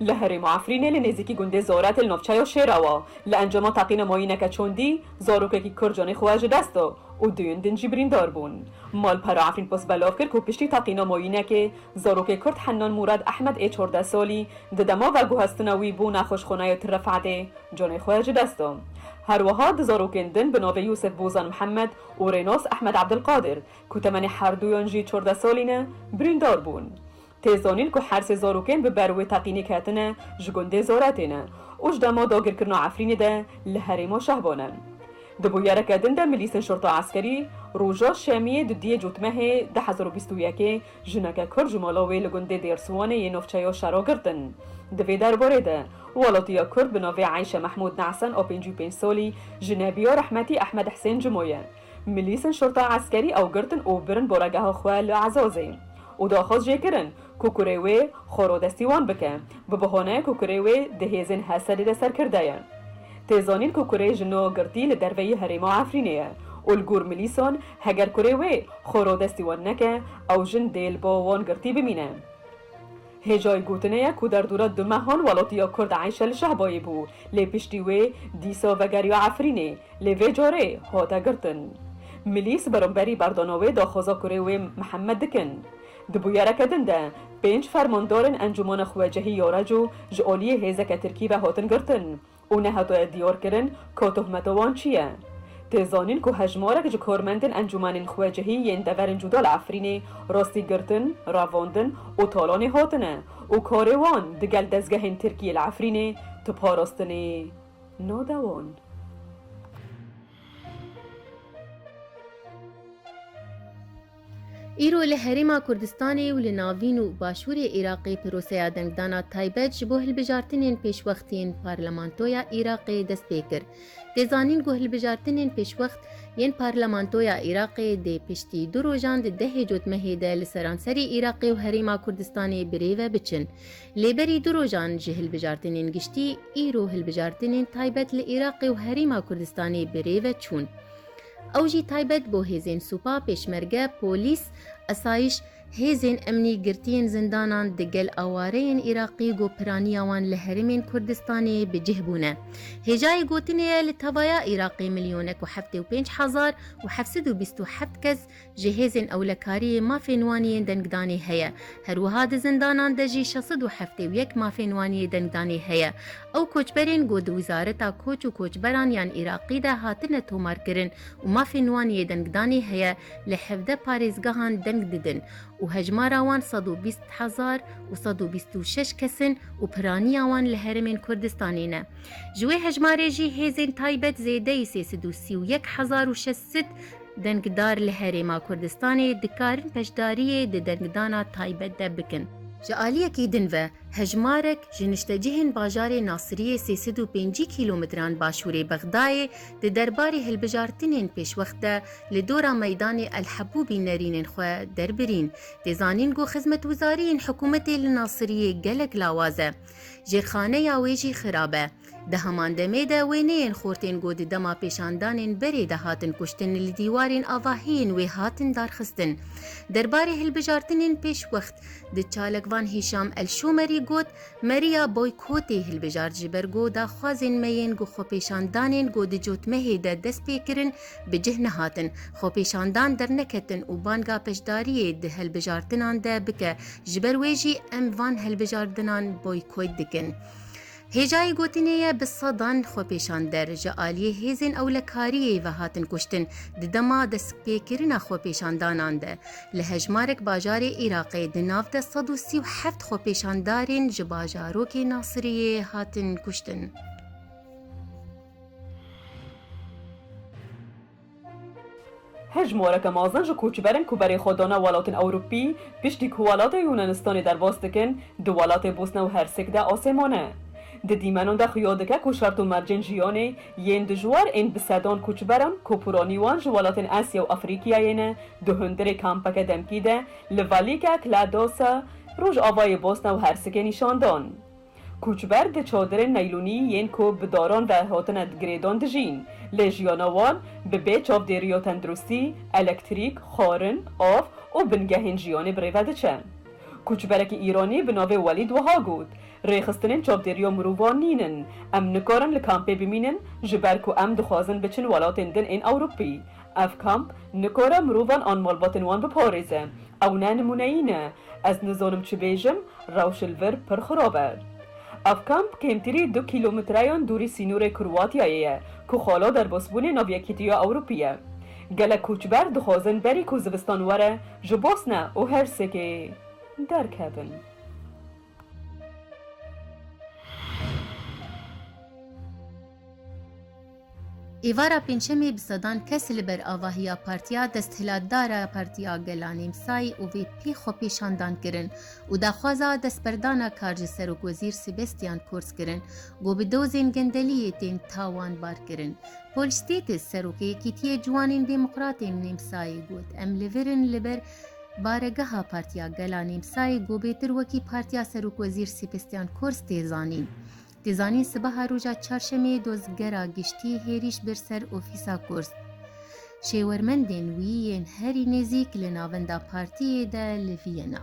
Li herêma Efrînê li nêzîkî gundê Zoret li nav çaya Şêra wa li encama teqîna mayîneke çandî zarokekî kir canê xwe ji dest da û duyên din jî birîndar bûn. Malpera Efrîn Post belav kir ku piştî teqîna mayînekê zarokê Kurd Hennan Mûrad Ehmed ê çardeh salî di dema veguhestina wî bû nexweşxanaya Til Refetê canê xwe ji dest da. Herwiha du zarokên din bi navê Yûsif Bozan Mihemed û Rênas Ehmed Ebdilqadir ku temenê herduyan jî çardeh salî ne birîndar bûn. Tê zanîn ku hersê zarokên bi ber wê teqînê ketine ji gundê Zora têne û ji dema dagirkirina Efrînê de li herêma Şehba ne. Di bûyereke din de milîsên şorta eskerî roja şemiyê dudiyê cotmehê du hezar û bîst û yek ê jineke kurd ji mala wê li gundê Dêrswanê yê navçeya Şera girtin. Di vê derbarê de welatiya kurd bi navê Eyşe Mehmûd Nehsen a pêncî û pênc salî ji Nebiya Rehmetî Ehmed Hisên Cimo ye. Milîsên Şorta Eskerî ew girtin û birin boregeha xwe li Ezazê û daxwaz jê kirin ku kurê wê xwe rodestî wan bike bi bihaneyê ku kurê wê di hêzên Hesedê de serkirde ye. Tê zanîn ku kurê ji no girtî li derveyî herêma Efrînê ye û li gor milîsan heger kurê wê xwe rodestî wan neke ew jin dê li bo wan girtî bimîne. Hêjayî gotinê ye ku derdora du mehan welatiya kurd Eyşe li Şehbayê bû, lê piştî wê dîsa vegeriya Efrînê, lê vê carê hate girtin. Milîs beramberî berdana wê daxwaza kurê wê Mihemed dikin. Di bûyereke din de pênc fermandarên Encûmana Xwecihî ya Reco ji aliyê hêzeke Tirkî ve hatin girtin. û nehatoye diyarkirin ka tohmeta wan çi ye. Tê zanîn ku hejmarek ji karmendên encûmenên xwecihî yên deverên cûda li Efrînê rastî girtin, revandin û talanê hatine û karê wan digel dezgehên Tirkiyê li Efrînê tu parastinê nade wan. Îro li Herêma Kurdistanê û li navîn û başûrê Iraqê piroseya dengdana taybet ji bo hilbijartinên pêşwext yên Parlamentoya Iraqê dest pê kir. Tê zanîn ku hilbijartinên pêşwext yên Parlamentoya Iraqê dê piştî du rojan di dehê cotmehê de li seranserê Iraqê û Herêma Kurdistanê bi rê ve biçin. Lê berî du rojan ji hilbijartinên giştî, îro hilbijartinên taybet li Iraqê û Herêma Kurdistanê bi rê ve çûn. Ew jî taybet bo hêzên sûpa, pêşmerge, polîs, esayiş, hêzên emnî, girtiyên zindanan, di gel awareyên Îraqî ku piraniya wan li herêmên Kurdistanê bi cih bûne. Hêjayê gotinê ye li tevaya Îraqê milyonek û heftê û pênc hezar û heft sed û bîst û heft kes Ji hêzên ewlekariyê mafên wan yên dengdanê heye. Her wiha di zindanan de jî şeş sed û heftê û yek mafên wan yê dengdanê heye. Ew koçberên ku di Wizareta Koç û Koçberan yan Iraqî de hatine tomarkirin û mafên wan yê dengdanê heye li hevdeh parêzgehan deng didin û hejmara wan sed û bîst hezar û sed û bîst û şeş kes in û piraniya wan li herêmên Kurdistanê ne. Ji wê hejmarê jî hêzên taybet zêdeyî sê sed û sî û yek hezar û şeş sed Dengdar li Herêma Kurdistanê dikarin beşdariyê di dengdana taybet de bikin. Ji aliyekî din ve hejmarek ji niştecihên bajarê Nasiriyê sê sed û pêncî kîlometran başûrê Bexdayê di derbarê hilbijartinên pêşwext de li dora meydanê El Hebûbî nerînên xwe derbirîn. Tê zanîn ku xizmetwizariyên hikûmetê li Nasiriyê gelek lawaz e. Jê xaneya wê jî xirab e. Di heman demê de wê neyên xortên ku di dema pêşandanên berê de hatin kuştin li dîwarên avahiyên wê hatin darxistin. Derbarê hilbijartinên pêşwext, di çalakvan Hîşam El-Şomerî got, Me riya boykotê hilbijart ji ber ku daxwazên me yên ku xwepêşandanên ku di cotmehê de dest pê kirin bi cih nehatin, xwepêşandan derneketin û banga beşdariyê di hilbijartinan de bike, ji ber wê jî em van hilbijardinan boykot dikin. Hêjayê gotinê ye bi sedan xwepêşander ji aliyê hêzên ewlekariyê ve hatin kuştin di dema destpêkirina xwepêşandanan de. Li hejmarek bajarê Iraqê di nav de sed û sî û heft xwepêşandarên ji bajarokê Nasiriyê hatin kuştin. Hejmareke mezin ji koçberin ku berê xwe dane welatên Ewropî, piştî ku welatê Yûnanistanê derbas dikin, di welatê Bosna û Hersek de asê mane. Di dîmenan de xuya dike ku şert û mercên jiyanê yên dijwar ên bi sedan koçberan ku poranî wan ji welatên Asya û Afrîkiyayê ne, di hundirê kampeke demkî de li Velika Kladosa, rojavayê Bosna û Hersekê nîşan dan. Koçber di çadirên neylûnî yên ku bi daran ve hatine girêdan dijîn. Lê jiyana wan bi bê çavdêriya tenduristî, elektrîk, xwarin, av û bingehên jiyanê bi rê ve diçe. Koçberekî Îranî bi navê Welîd wiha got, Rêxistinên çavdêriya mirovan nîn in. Em nikarin li kampê bimînin ji ber ku em dixwazin biçin welatên din ên Ewropî. Ev kamp nikare mirovan an malbatên wan biparêze. Ew ne nimûneyî ne. Ez nizanim çi bêjim, rewş li vir pir xirab e. Ev kamp kêmtirî du kîlometreyan dûrî sînorê Kroatiyayê ye ku xala derbasbûnê nav Yekîtiya Ewropî ye. Gelek koçber dixwazin berî ku zivistan were ji Bosne û Hersekê derkevin. Êvara pêncşemê bi sedan kes li ber avahiya Partiya Desthilatdar a Partiya Gela Nêmsay û VP xwepêşandan kirin û daxwaza destberdana kar ji Serokwezîr Sibestyan Kurz kirin ku bi dozên gendeliyê tên tawanbar kirin. Paul Stettis, Seroka Yekîtiyê Ciwanên Demokratên Nêmsayê got, Em li vir in li ber Baregeha Partiya Gela Nêmsayê Gobêtir wekî Partiya Serokwezîr Sêbestyan Kors tê zanîn. Tê zanîn sibeha roja Çarşemê Dozgera Giştî hêrîş bir ser ofîsa Kors. Şêwermendên wî yên herî nêzîk li navenda partiyê de li Viyena.